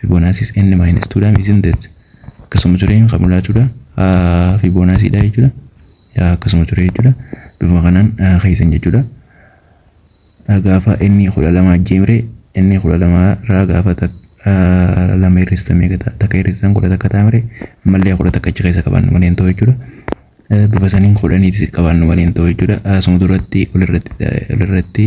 Fibonacciis n minus 2 dha isn't it? Akkasuma ture kan mul'achuudha. Fibonacci dha jechuudha. Akkasuma ture jechuudha. Bifuma kanaan keessan jechuudha. Gaafa inni kudha lama ajjeemre inni kudha lama irraa gaafa lama hir'ista meeqa ta'a? Takka hir'istan kudha takka taamre ammallee kudha takka achi keessa qabaannu malee hin ta'u jechuudha. Bifa saniin kudhaniitis qabaannu malee hin ta'u jechuudha. Asuma duratti olirratti olirratti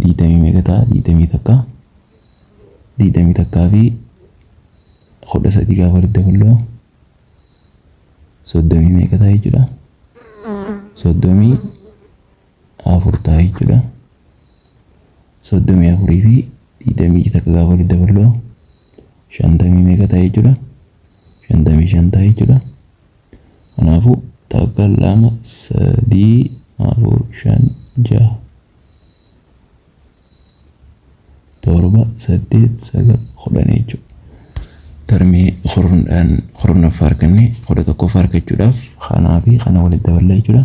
digdamii meeqa ta'a digdamii takka digdamii takkaa fi kudha sadii gaafa walitti daballu soddomii meeqa ta'a jechuudha soddomii afur ta'a jechuudha soddomii afurii fi digdamii takka gaafa walitti daballu shantamii meeqa ta'a jechuudha shantamii shan ta'a jechuudha Kanaafuu, takka, lama, sadii, afur, shan, jaha, torba, saddeet, sagal, kudhan jechuudha. Tarmii kurnaan kurnaffaa arganne kudha tokkoffaa argachuudhaaf kanaa fi kana walitti daballa jechuudha.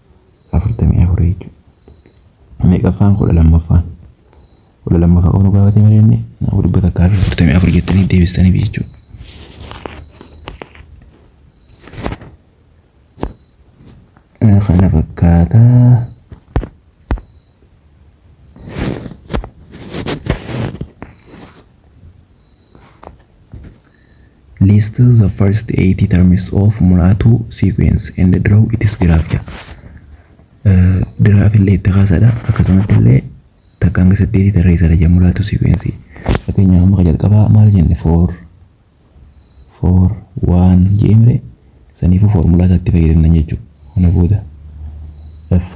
afurtamii afur jechuudha. Meeqaffaan kudha lammaffaan kudha lammaffaa qofa nu gaafatee malee inni kanaafuu dhibba takkaa fi afurtamii afur jettanii deebistaniif jechuudha. Kana fakkaata. List the first eight terms of Mulatu sequence and draw its graph ja. Graph illee itti kaasadha akkasumatti illee takka hanga saddeetii tarreessadha ja Mulatu sequence. Fakkeenyaaf amma jalqabaa maal jenne four four one jeemre saniifuu foormulaa isaatti fayyadamna jechuudha. Kana booda f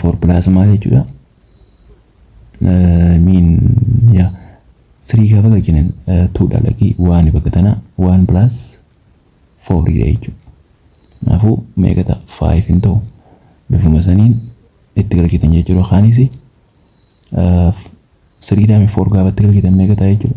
foormulaas maal jechuudha miin yaa sirii gaafa galchinan tuudha lakii waan bakka tanaa waan pilaas fooriidha jechuudha. Kanaafuu meeqa ta'a faayiif hin ta'u bifuma saniin itti galchitan jechuudha kaanis siriidhaami foor gaafa itti galchitan meeqa ta'a jechuudha.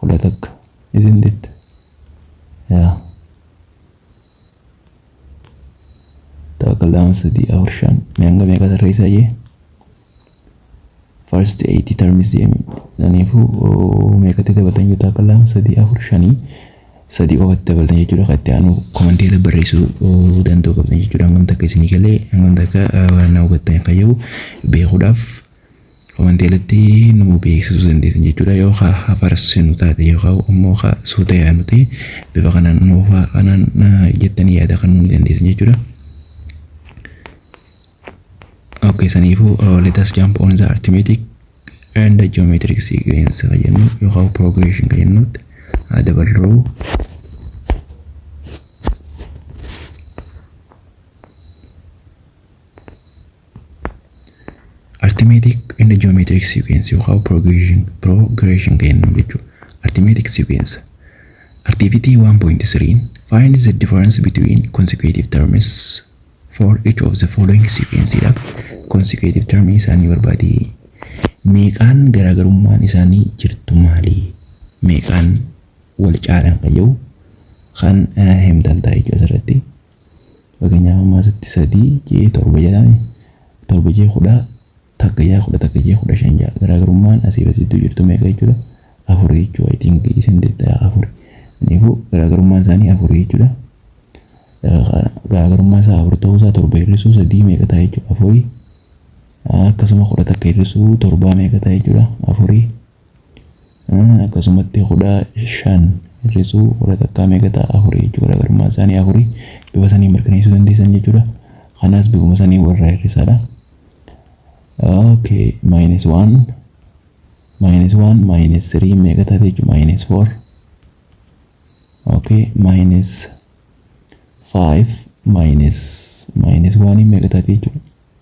Hula takka. Isn't it? Yeah. Takka lama sadii afur shan. Mee hanga meeqa tarreessaa jee? First eight terms jee. Kanaafuu meeqatti dabaltan yoo takka lama sadii afur shanii sadii qofatti dabaltan jechuudha. Kan itti aanu komantii irra barreessuu danda'u qabdan jechuudha. Hangam takka isinii galee hangam takka waan na hubattan kan jedhu beekuudhaaf. Wanti alatti nu beeksisuu dandeessan jechuudha. Yoo ka hafarsinu taate yookaan immoo ka suuta yaanu ta'e bifa kanaan nuufa kanaan jettanii yaada kan nuuni dandeessan jechuudha. Okay, saniifuu uh, let us jump on the arithmetic and the geometric sequence ka jennu yookaan progression ka jennutti haa daballu. Arithmetic and geometric sequence yookaan progression progression kennu jechuudha. Arithmetic sequence activity 1.3 find the difference between consecutive terms for each of the following sequence dha. Consecutive term isaanii barbaadi. Meeqaan garaagarummaan isaanii jirtu maali? Meeqaan wal caalan kan jedhu kan himtan ta'a jechuudha asirratti. Fakkeenyaaf amma asitti sadii je'ee torba jedhaa mii? Torba je'ee kudha takka ja'a kudha takka je'ee kudha shan ja'a. Garaagarummaan asiif as jidduu jirtu meeqa jechuudha? Afuri jechuudha. I think isin deettayaa afuri. Kanaafuu garaagarummaan isaanii afuri jechuudha. Garaagarummaan isaa afur ta'uu isaa torba hir'isuu sadii meeqa ta'a jechuudha? Afuri. Akkasuma kudha takka hir'isuu torbaa meeqa ta'a jechuudha? Afuri. Akkasumatti kudha shan hir'isuu kudha takkaa meeqa ta'a afurii jechuudha garaagarummaan isaanii afurii bifa saniin mirkaneessuu dandeessan jechuudha. Kanas bifuma saniin walirraa hir'isaadha. Okay minus one minus one minus three meeqa taate jechuudha minus four okay minus five minus minus one meeqa taate jechuudha.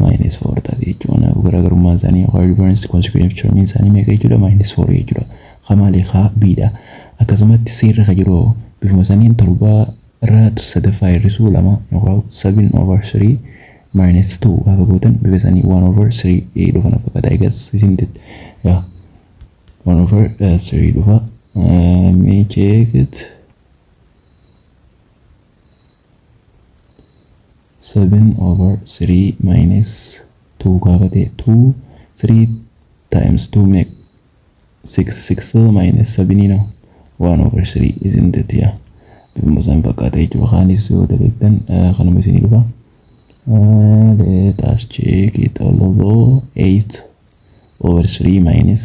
minus 4 ta'a jechuudha. Kanaaf garaagarummaan isaanii yookaan difference consecutive term isaanii meeqa jechuudha? minus 4 jechuudha. Ka maali? Ka B dha. Akkasumatti C irra ka jiru bifuma saniin torba irraa sadaffaa hir'isuu lama yookaan 7 over 3 minus 2 gaafa gootan bifa isaanii 1 over 3 dhufa na fakkaata. Egas isn't it? Yeah. 1 over 3 dhufa. Mee check it. seven over three minus two gaafa ta'e two three times two make six six minus seven no one over three isn't it yaa bifuma san fakkaata jechuudha kaanis yoo dalagdan kanuma isinii dhufa let us check it although eight over three minus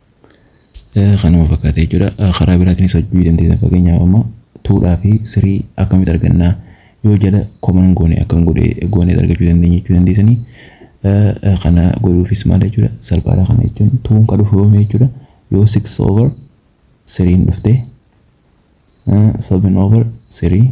Kanuma fakkaata jechuudha. Karaa biraatiinis hojjechuu dandeessan fakkeenyaaf amma tuudhaa fi sirii akkamitti argannaa yoo jala koman goone akkam godhee goonee argachuu dandeenya jechuu dandeessanii. Kana godhuufis maal jechuudha salphaadha kana jechuun tuun kan dhufu yoomii jechuudha yoo 6 over siriin dhuftee 7 over sirii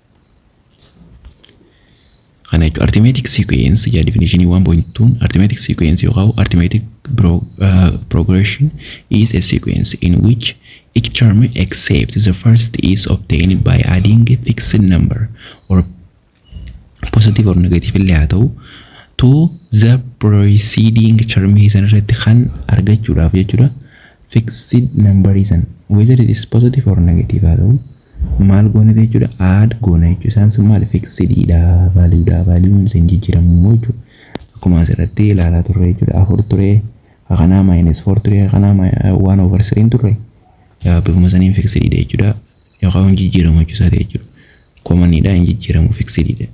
Kana jechuun artimeetik siikuweensi yaa difinishinii 1.2 artimeetik siikuweensi yookaan artimeetik progression is a sequence in which each term except the first is obtained by adding a fixed number or positive or negative illee haa ta'u to the preceding term san irratti kan argachuudhaaf jechuudha fixed number san whether it is positive or negative haa ta'u maal goonedha jechuudha add goona jechuudha isaan sun maal fixedidha value dha value isa hin jijjiiramu immoo jechuudha akkuma asirratti ilaalaa turre jechuudha afur ture kanaa minus four ture kanaa one over three turre bifuma saniin fixedidha jechuudha yookaan hin jijjiiramu jechuudha komanidha hin jijjiiramu fixedidha.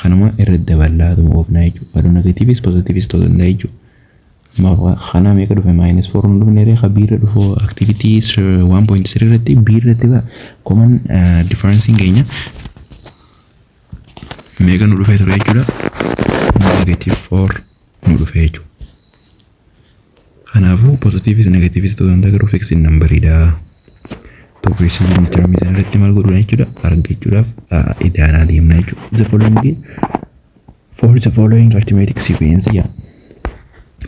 Kanuma irra daballaatuma oofnaa jechuudha. Value negative is positive is ta'uu danda'a jechuudha. Amma kanaa meeqa dhufe minus 4 nu dhufne ree ka B irra dhufu activity 1.3 irratti B irratti ba common differencing keenya meeqa nu dhufee ture jechuudha. Negative 4 nu dhufee jechuudha. Kanaafuu positiivis negatiivis ta'uu danda'a garuu fiksiin nambariidha. Tokko isaan hin jirmi sana irratti maal godhuudha jechuudha argachuudhaaf idaanaa deemna jechuudha. The following for the following arithmetic sequence yaa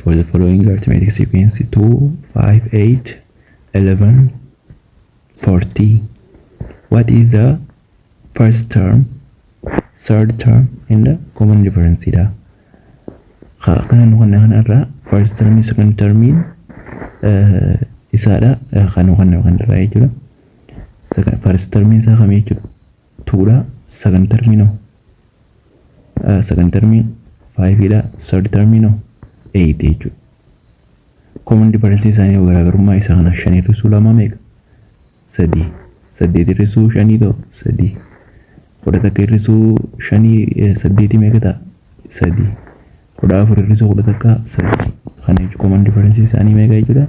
for the following arithmetic sequence 2 5 8 11 40 what is the First term, third term and common difference dha. Ka kana nu kanne kana irraa first term, second term isaadha kan nu kanne kan irraa jechuudha. Second- First term isaa kami jechuudha? Two dha. Second term noo. Uh, second term five dha. Third term noo. Eight jechuudha. Common difference isaanii garaagarummaa isaa kana shan irra suu lamaa meeqa? sadii saddeet hir'isuu shanii ta'u sadii kudha takka hir'isuu shanii eh, saddeetii meeqa ta'a sadii kudha afur hir'isuu kudha takka sadii kana jechuun koman differensi isaanii meeqa jechuudha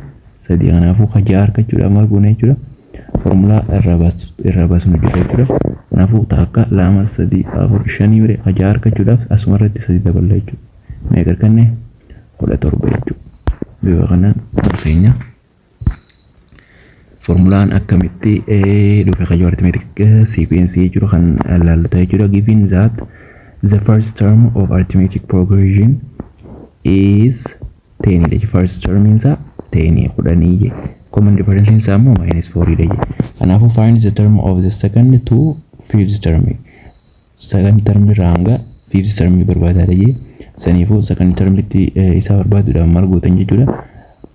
sadii kanaafuu ka ja'a argachuudhaaf maal goona jechuudha formulaa irraa baasu irraa baasnu jira jechuudha kanaafuu takka lama sadii afur shanii mire ka ja'a argachuudhaaf asuma irratti sadii daballa jechuudha meeqa arganne kudha torba jechuudha bifa kanaan keenya. Formulaan akkamitti dhufe kayyoo arithmetic sequence jiru kan ilaallu ta'e jira. Given that the first term of arithmetic progression is 10 dha. First term isaa 10 kudhanii je. Common difference isaa immoo minus 4 dha je. Kanaafuu find the term of the second to fifth term. Second term irraa hanga fifth term barbaadaa dha je. Saniifuu second term itti isaa barbaaduudhaaf maal gootan jechuudha.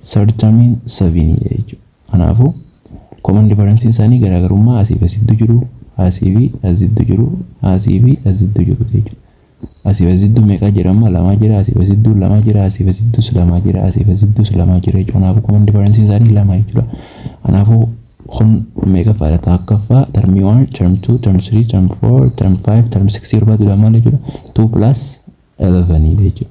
Sarjamiin saviinii dha jechuudha. Kanaafuu common difference isaanii garaagarummaa asii fi as jiddu jiru, asii fi as jiddu jiru, asii fi as jiddu jiru jechuudha. Asii fi as jiddu meeqa jira amma lamaa jira, asii fi as jiddu lamaa jira, asii fi as jiddus lamaa jira, asii fi as jiddus lamaa jira jechuudha. Kanaafuu common difference isaanii lama jechuudha. Kanaafuu kun meeqaffaa dha? Tokkaffaa term 1, term 2, term 3, term 4, term 5, term 6 barbaaduu dha maal jechuudha? 2 plus 11 dha jechuudha.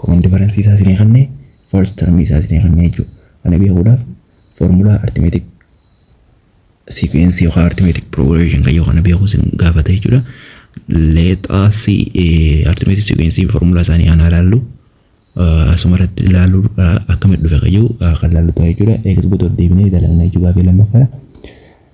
Common difference isaa isinii kanne, first term isaa isinii kanne jechuudha. Kana beekuudhaaf formula arithmetic sequence yookaan arithmetic progression kan yoo kana beeku isin gaafata jechuudha. Let us see arithmetic sequence formula isaanii kana ilaallu. Asuma irratti ilaallu akkamitti dhufe kan yoo kan ilaallu ta'a jechuudha. Eegas gotoota deebinee dalagna jechuudha gaafii lammaffaadha.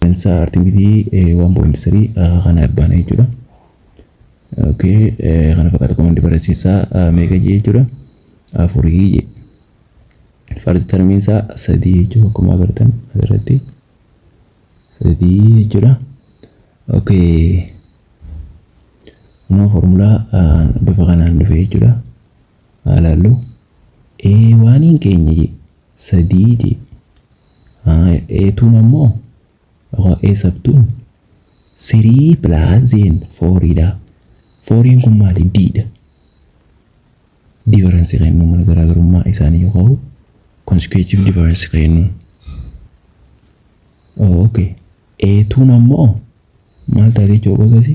Seensa artivitii 1.3 kana abbaana jechuudha. Okay, kana fakkaata komandi barreessisaa meeqa jee jechuudha. Afurii jee. Farsi tarmiinsaa sadii jechuudha akkuma agartan asirratti. Sadii jechuudha. Okay. Kunoo formulaa bifa kanaan dhufe jechuudha. Haalaallu. A waaniin keenya jee. 3 jee haaya eetuun ammoo yookaan ee sabtuun 3 plus zeen 4 dha 4n kun maali d dha difference kennuu mana garaagarummaa isaanii yookaan consecutive difference kennuu ok eetuun ammoo maal taatee jooga gasi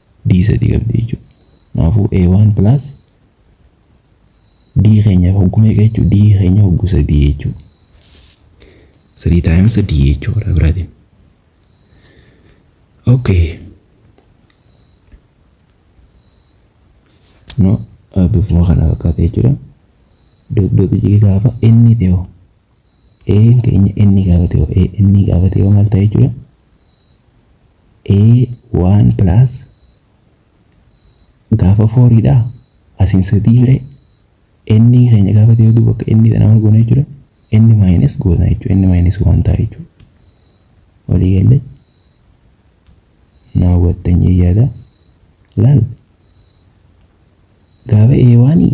D sadii qabdi jechuudha. Kanaafuu A1 plus D keenyaaf hoggu meeqa jechuudha? D keenya hoggu sadii jechuudha. Sadii times D jechuudha karaa biraatiin. Okay. No bifuma kana fakkaata jechuudha. Dot dot jigee gaafa inni ta'e hoo? A'n keenya inni gaafa ta'e hoo? A'n gaafa ta'e hoo maal ta'a jechuudha? A one plus gaafa foorii dha asiin sadii ree n keenya gaafa ta'e hedduu bakka n dha nama goona jechuudha n minus goona jechuudha n minus waan ta'a jechuudha walii galle naa hubattan jee yaada laal gaafa eewaanii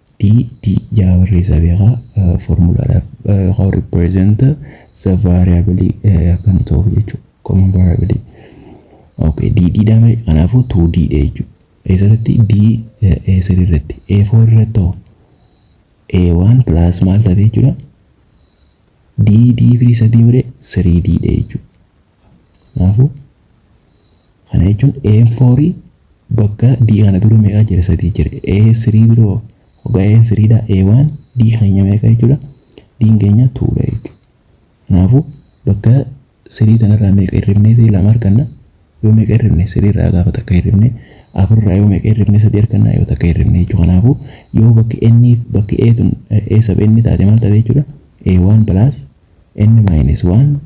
D D ja'a barreessaa beekaa foormulaadhaaf yookaan represent the variable akka nu ta'uuf jechuudha. Common variable. Okay, D D dha malee kanaafuu 2D dha jechuudha. Eessatti D A3 irratti A4 irratti hoo A1 plus maal ta'e jechuudha? D D firii sadii malee 3D dha jechuudha. Kanaafuu kana jechuun A'n foorii bakka D kana dura meeqaa jira sadii jira A3 dura hoo hoggaa A'n 3 dha A1 D keenya meeqa jechuudha D'n keenya 2 dha jechuudha. Kanaafuu bakka 3 tanarraa meeqa hirribnee ta'e lama arganna yoo meeqa hirribne 3 irraa gaafa takka hirribne afur irraa yoo meeqa hirribne sadii arganna yoo takka hirribne jechuudha. Kanaafuu yoo bakki N bakki A tun A sub N taate maal taate jechuudha A1 plus N minus 1